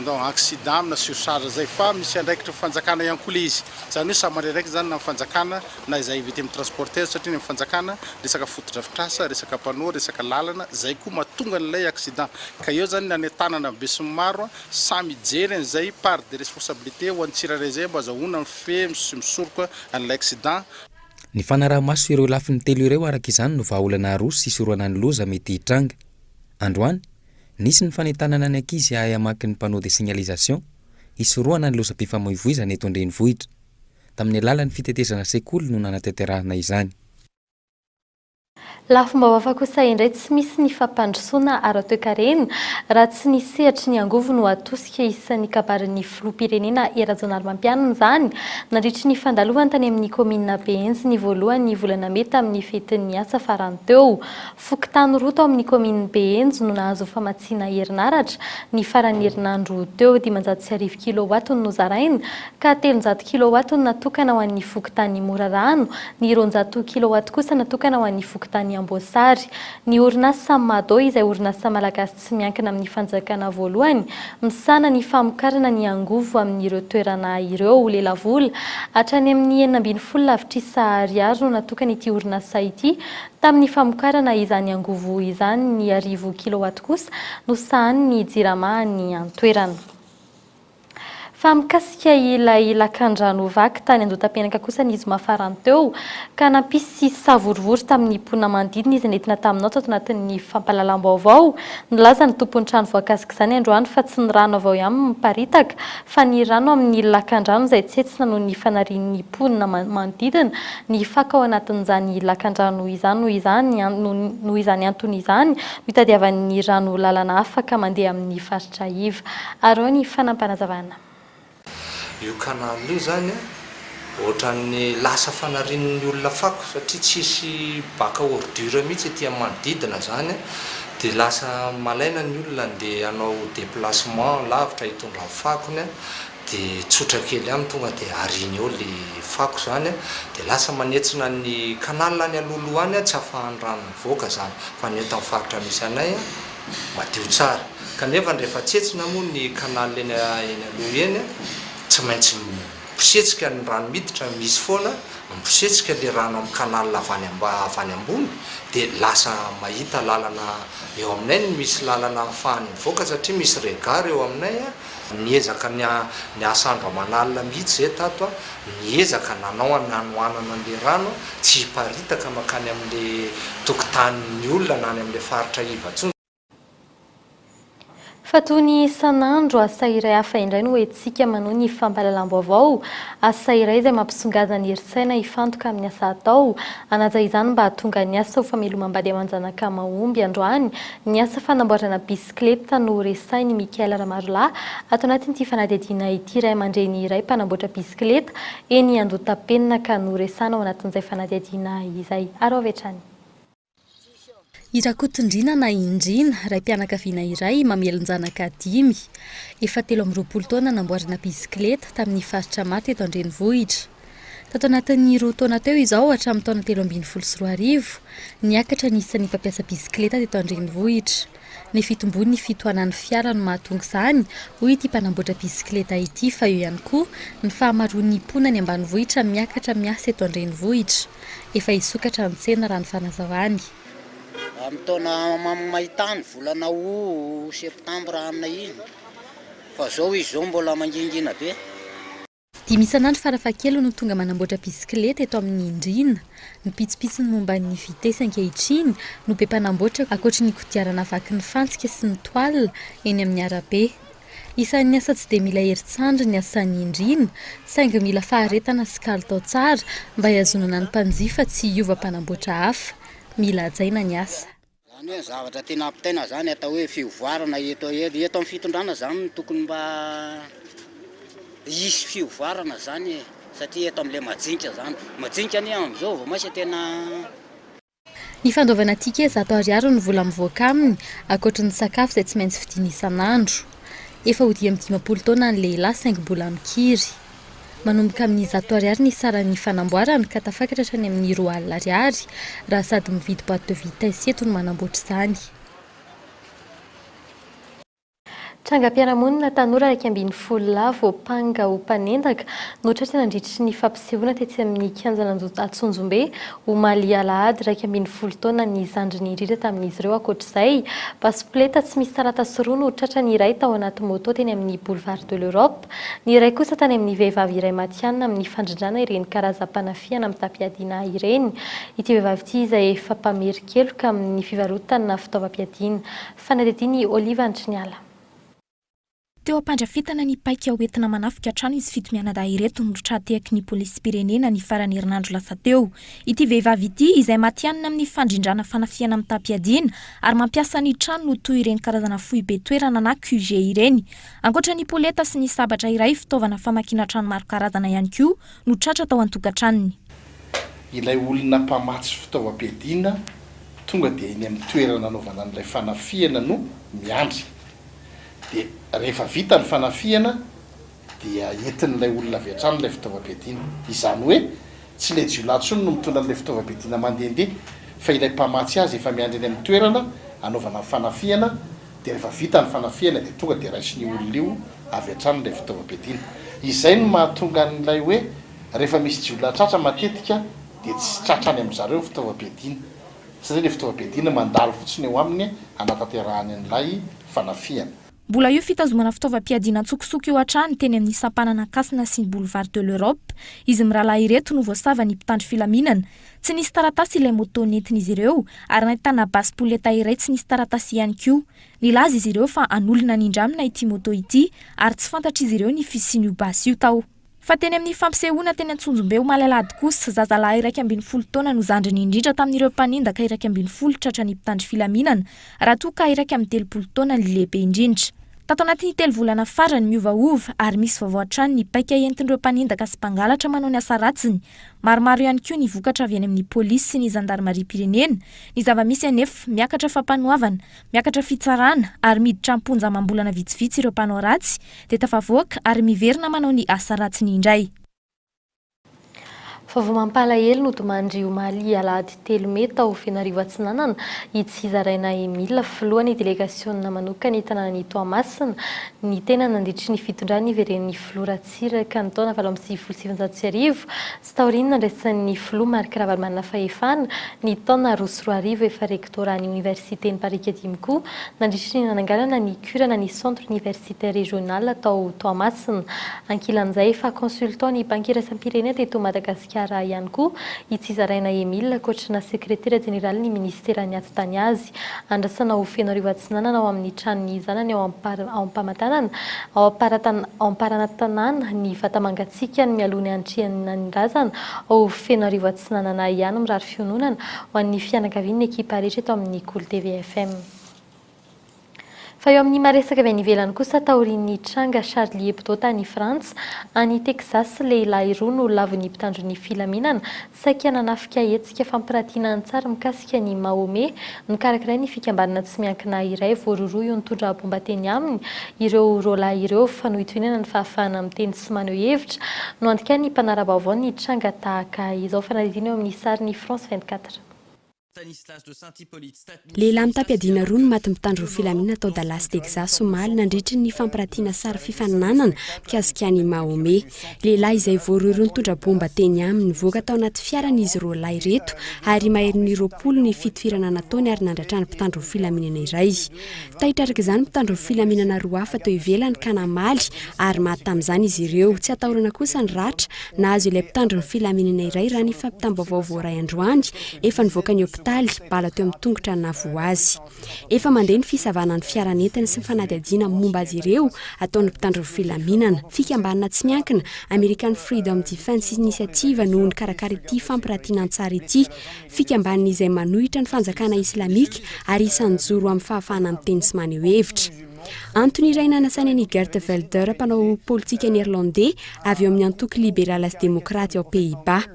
ndao accident na surcharge izay fa misy andraikitry ny fanjakana ihany koa ilay izy, izany hoe samy mandray andraikitra izany na ny fanjakana na izay victimes transporteurs satria ny amin'ny fanjakana resaka fotodrafitrasa, resaka panneaux, resaka lalana izay koa mahatonga an'ilay accident ka eo izany ny any an-tanana besinimaro samy hijery an'izay part de responsabilité ho an'ny tsirairay izay mba azahoana mifehy sy misoroka an'ilay accident. Ny
fanaraha-maso ireo lafiny telo ireo araka izany no vahaolana aroso hisorohana ny loza mety hitranga. Androany, nisy ny fanentanana ny ankizy hahay hamaky ny panneaux de signalisation hisorohana ny lozam-pifamoivoizana eto an-drenivohitra. Tamin'ny alalan'ny fitetezana sekoly no nanatanterahana izany.
Lafim-baovaka kosa indray tsy misy ny fampandrosoana ara-toekarena raha tsy ny sehatry ny angovo no atosika isan'ny kabarin'ny filoham-pirenena Hery Rajaonarimampianina izany nandritry ny fandalovany tany amin'ny kaominina Behenjy ny voalohan'ny volana mey tamin'ny fetin'ny asa farany teo. Fokontany roa tao amin'ny kaominin'i Behenjy no nahazo famatsiana herinaratra ny faran'ny herinandro teo, dimanjato sy arivo kilaowatt no nozaraina ka telonjato kilowatt no natokana ho an'ny fokontany Morarano, ny roanjato kilowatt kosa natokana ho an'ny fokontany Amboasary. Ny orinasa Mado izay orinasa malagasy tsy miankina amin'ny fanjakana voalohany misahana ny famokarana ny angovo amin'ireo toerana ireo lelavola hatrany amin'ny enina ambin'ny folo lavitrisa ariary no natokana ity orinasa ity tamin'ny famokarana izany angovo izany, ny arivo kilowatt kosa no sahanin'ny Jirama any an-toerana. Fa mikasika ilay lakandrano vaky tany Andotapenaka kosa ny zoma farany teo, ka nampisy savorovoro tamin'ny mponina manodidina izy nentina taminao tato anatin'ny fampahalalam-baovao. Nilaza ny tompon'ny trano voakasik'izany androany fa tsy ny rano avy ao ihany miparitaka, fa ny rano amin'ny lakandrano izay tsentsina noho ny fanarian'ny mponina manodidina ny fako ao anatin'izany lakandrano izany. Noho izany antony izany no itadiavany rano lalana afaka mandeha amin'ny faritra. Trahiva. Arao ny fanampanazavana.
Io canal io zany a ohatran'ny lasa fanarin'ny olona fako satria tsisy baka ordure mihitsy ety am manodidina zany a de lasa malaina ny olona andeha hanao deplacement lavitra hitondra ny fakony a de tsotra kely am tonga de ariny eo le fako zany a de lasa manetsina ny canal any alohaloha any a tsy afahan'ny rano mivoaka zany fa ny eto am faritra misy anay a madio tsara. Kanefa ny rehefa tsetsina moa ny canal eny eny aloha eny a, tsy maintsy mibosetsika ny rano miditra, misy foana mibosetsika le rano amin'ny canal avy any amba- avy any ambony de lasa mahita lalana eo aminay ny misy lalana ahafahany mivoaka satria misy regard eo aminay a, Niezaka niasa andro aman'alina mihitsy izahay tato an! Niezaka nanao ny hanohanana an'ilay rano tsy hiparitaka mankany amin'ilay tokotanin'ny olona na any amin'ilay faritra iva intsony.
Fa toy ny isan'andro, asa iray hafa indray no entintsika manohy ny fampahalalam-baovao. Asa iray izay mampisongadina ny herin-tsaina hifantoka amin'ny asa atao. Hanaja izany mba hahatonga ny asa ho famelomam-bady aman-janaka mahomby androany ny asa fanamboarana bus. Bisikileta no resahin'i Michael Ramarolahy ato anatin'ity fanadihadiana ity. Ray aman-dreny iray mpanamboatra bisikileta eny Andohatapenaka no resahana ao anatin'izay fanadihadiana izay. Araho avy hatrany. I
Rakotondriana na i Ndriana, raim-pianakaviana iray, mamelon-janaka dimy. Efa telo amby roapolo taona namboarina bisikileta, tamin'ny faritra maro teto an-drenivohitra. Tato anatin'ny roa taona teo izao, hatramin'ny taona telo ambin'ny folo sy roa arivo, niakatra ny isan'ny mpampiasa bisikileta teto an-drenivohitra. Ny fitomboan'ny fitohanan'ny fiara no mahatonga izany, hoy ity mpanamboatra bisikileta ity, fa eo ihany koa ny fahamaroan'ny mponina any ambanivohitra miakatra miasa eto an-drenivohitra. Efa hisokatra ny tsena raha ny fanazavany. Amin'ny
taona maitany, volana août, septembre aminy iny, fa izao izy izao mbola mangingina be. Dimy
isan'andro farafahakeliny no tonga manamboatra bisikileta eto amin'ny Indriana. Ny pitsopitsony momba ny vitesy ankehitriny no be mpanamboatra ankoatry ny kodiarana vaky ny fantsika sy ny toile eny amin'ny arabe. Isan'ny asa tsy dia mila herin-tsandry ny asan'ny Indriana saingy mila faharetana sy kalitao tsara mba hihazonana ny mpanjifa tsy hiova mpanamboatra hafa. Mila hajaina ny asa. Izany hoe zavatra
tiana hampitaina izany atao hoe fivoarana eto eto amin'ny fitondrana izany no tokony mba hisy fivoarana izany e, satria eto amin'ilay majinika izany, majinika anie amin'izao vao maisa tena.
Ny fandoavana ticket zato ariary ny vola mivoaka aminy, ankoatry ny sakafo izay tsy maintsy vidiana isan'andro. Efa ho dimy amby dimampolo taona ny lehilahy saingy mbola mikiry. Manomboka amin'ny zato ariary ny saran'ny fanamboarana ka tafakatra hatrany amin'ny roa alina ariary raha sady mividy boite de vitesse eto no manamboatra izany.
Trangam-piarahamonina tanora iraika ambin'ny folo lahy voampanga ho mpanendaka no tratra nandritry ny fampisehoana tetsy amin'ny kianjan'Antsonjombe omaly alahady iraika ambin'ny folo taona ny zandriny indrindra tamin'izy ireo ankoatr'izay basipoleta tsy misy taratasy roa no tratran'ny iray tao anaty moto teny amin'ny boulevard de l'Europe Ny iray kosa tany amin'ny vehivavy iray matihanina amin'ny fandrindrana ireny karazam-panafihana mitam-piadiana ahy ireny. Ity vehivavy ity izay efa mpamerin-keloka amin'ny fivarotana fitaovam-piadiana. Fanadihadian'i Olive Andriniala.
Teo am-pandrafetana ny paika ho entina manafika trano izy fito mianadahy ireto no tra-tehaky ny polisim-pirenena ny faran'ny herinandro lasa teo. Ity vehivavy ity, izay matihanina amin'ny fandrindrana fanafihana mitam-piadiana ary mampiasa ny tranony ho toy ireny karazana foibe toerana na QG ireny, Ankoatra ny poleta sy ny sabatra iray, fitaovana famakiana trano maro karazana ihany koa no tratra tao an-tokantranony. Ilay
olona mpamatsy fitaovam-piadiana tonga dia eny amin'ny toerana nanaovana an'ilay fanafihana no miandry. Dia rehefa vita ny fanafihana dia entin'ilay olona avy hatrany ilay fitaovam-piadiana. Izany hoe tsy ilay jiolahy intsony no mitondra an'ilay fitaovam-piadiana mandehandeha fa ilay mpamatsy azy efa miandry eny amin'ny toerana anaovana ny fanafihana. Dia rehefa vita ny fanafihana dia tonga dia raisin'io olona io avy hatrany ilay fitaovam-piadiana. Izay no mahatonga an'ilay hoe rehefa misy jiolahy tratra matetika dia tsy tratra any amin-dry zareo ny fitaovam-piadiana satria ilay fitaovam-piadiana mandalo fotsiny eo aminy hanatanterahany an'ilay fanafihana. Mbola io
fitazomana fitaovam-piadiana an-tsokosoko io hatrany teny amin'ny sampanana Ankasina sy ny Boulevard de l'Europe. Izy mirahalahy ireto no voasava ny mpitandro filaminana, Tsy nisy taratasy ilay moto nentin'izy ireo ary nahitana basy poleta iray tsy nisy taratasy ihany koa. Nilaza izy ireo fa an'olona nindramina ity moto ity ary tsy fantatr'izy ireo ny fisian'io basy io tao. Fa teny amin'ny fampisehoana teny Antsonjombe omaly alahady kosa, zazalahy iraika ambin'ny folo taona no zandriny indrindra tamin'ireo mpanendaka iraika ambin'ny folo tratra ny mpitandro filaminana raha toa ka iraika amby telopolo taona ny lehibe indrindra. Tato anatin'ny telo volana farany, miovaova ary misy vaovao hatrany ny paika entin'ireo mpanendaka sy mpangalatra manao ny asa ratsiny Maromaro ihany koa ny vokatra avy any amin'ny polisy sy ny zandarimariam-pirenena. Ny zava-misy anefa, miakatra fampanoavana, miakatra fitsarana ary miditra am-ponja amam-bolana vitsivitsy ireo mpanao ratsy, dia tafavoaka ary miverina manao ny asa ratsiny indray. Vaovao
mampalahelo nodimandry omaly alahady telo mey tao Fenoarivo Atsinanana, i Tsizaraina Emile, filohan'ny delegasionina manokan'ny tanànan'i Toamasina, ny tena nandritry ny fitondrany niveren'ny filoha Ratsiraka. Iraka ny taona valo amby sivifolo sy sivinjato sy arivo, tsy taorian'ny nandraisan'ny Filoha Marc Ravalomanana fahefana, ny taona roa sy roa arivo efa rektoran'ny Oniversiten'i Parikadimy koa, nandritra ny nananganana ny Curana ny Centre Universitaire Régional tao Toamasina. Ankilan'izay, efa consultant-n'ny Banky Iraisam-pirenena teto Madagasikara, Kara ihany koa i Tsizaraina Emile, ankoatrana sekretera jeneralin'ny minisiteran'ny ati-tany azy. Andrasana ho feno hariva atsinanana ao amin'ny tranon'ny zanany ao Ampara, ao Ampamatanana, ao Amparatan, ao Amparanantanàna, ny vata mangatsiakany mialoha ny hanatrehanan'nyrazana ao feno hariva atsinanana ihany mirary fiononana ho an'ny fianakavian'ny ekipa rehetra eto amin'ny Kolo TV FM. Fa eo amin'ny maresaka avy any ivelany kosa, taorian'ny tranga Charlie Hebdo tany Frantsa, any Texas, lehilahy roa no lavon'ny mpitandro ny filaminana, saika nanafika hetsika fampiratiana an-tsary mikasika an'i Mahomet, nokarakirain'ny fikambanana tsy miankina iray voarohirohy ho nitondra baomba teny aminy ireo roalahy ireo. Fanohitohinana ny fahafahana miteny sy maneho hevitra no andikan'ny mpanara-baovao ny tranga tahaka izao. Fanadihadiana eo amin'ny sarin'i France 24. Stanislas dos Santos Hipólito,
Stat. Lehilahy mitam-piadiana roa no matin'ny mpitandro ny filaminana tao Dallas, Texas, omaly, nandritry ny fampirantiana sary fifaninanana mikasika an'i Mahomet. Lehilahy izay voarohirohy nitondra baomba teny aminy. Nivoaka tao anaty fiarany izy roa lahy ireto, ary maherin'ny roapolo ny fitifirana nataony ary nandray trano mpitandro ny filaminana iray. Taitra araka izany ny mpitandro ny filaminana roa hafa teo ivelany ka namaly ary maty tamin'izany izy ireo. Tsy atahorana kosa ny ratra Nahazo ilay mpitandro ny filaminana iray raha ny fampitam-baovao voaray androany, efa nivoaka ny hopitaly, bala teo amin'ny tongotra no nahavoa azy. Efa mandeha ny fisavana ny fiara nentiny sy ny fanadihadiana momba azy ireo ataon'ny mpitandro ny filaminana. Fikambanana tsy miankina, American Freedom Defense Initiative no nikarakara ity fampiratiana an-tsary ity. Fikambanana izay manohitra ny fanjakana islamika ary isan'ny joro amin'ny fahafahana miteny sy maneho hevitra. Antony iray nanasainy an'i Geert Velder, mpanao politika Neerlandey avy eo amin'ny antoko Liberala sy Demokraty ao Pays-Bas.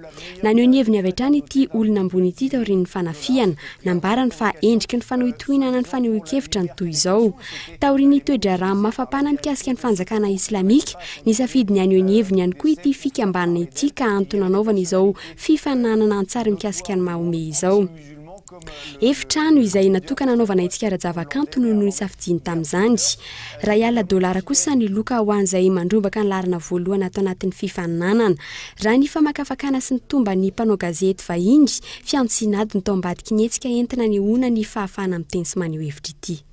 Naneho ny heviny avy hatrany ity olona ambony ity taorian'ny fanafihana. Nambarany fa endriky ny fanohitohinana ny fanehoan-kevitra ny toy izao. Taorian'ny toe-draharaha mafapana mikasika ny fanjakana islamika, nisafidy ny haneho ny heviny ihany koa ity fikambanana ity ka antony nanaovany izao fifaninanana an-tsary mikasika an'i Mahomet izao. Efitrano izay natokana hanaovana hetsika ara-javakanto no nosafidiany tamin'izany. Iray alina dolara kosa ny loka ho an'izay mandrombaka ny laharana voalohany ato anatin'ny fifaninanana. Raha ny famakafakana sy ny tomban'ny mpanao gazety vahiny, fihantsiana adiny tao ambadiky ny hetsika entina anehoana ny fahafahana miteny sy maneho hevitra ity.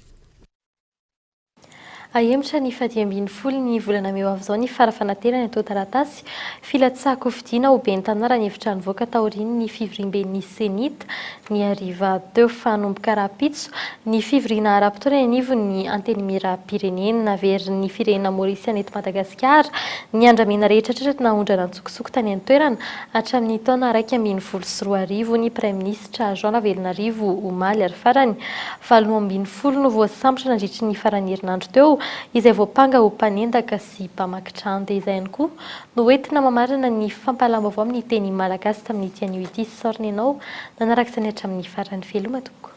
Hahemotra ny faha-dimy ambin'ny folo ny volana mey ho avy izao ny fara-fanaterany atao taratasy filatsaham-kofidiana ho ben'ny Tanà raha ny hevitra nivoaka taorian'ny fivoriamben'ny Cenit ny hariva teo fa hanomboka rahampitso ny fivoriana ara-potoana eny anivon'ny Antenimierampirenena. Naverin'ny firenena Maorisiana eto Madagasikara ny andramena rehetra tratry ny nahaondrana an-tsokosoko tany an-toerana hatramin'ny taona iraika ambin'ny folo sy roa arivo ny Praiminisitra Jean Ravelonarivo omaly ary farany valo ambin'ny folo no voasambotra nandritry ny faran'ny herinandro teo, izay voampanga ho mpanendaka sy mpamaky trano. Dia izay ihany koa no hoentina mamarana ny fampahalam-baovao amin'ny teny malagasy tamin'ity anio ity. Sorry nenao nanaraka izany hatramin'ny farany. Veloma tompoko.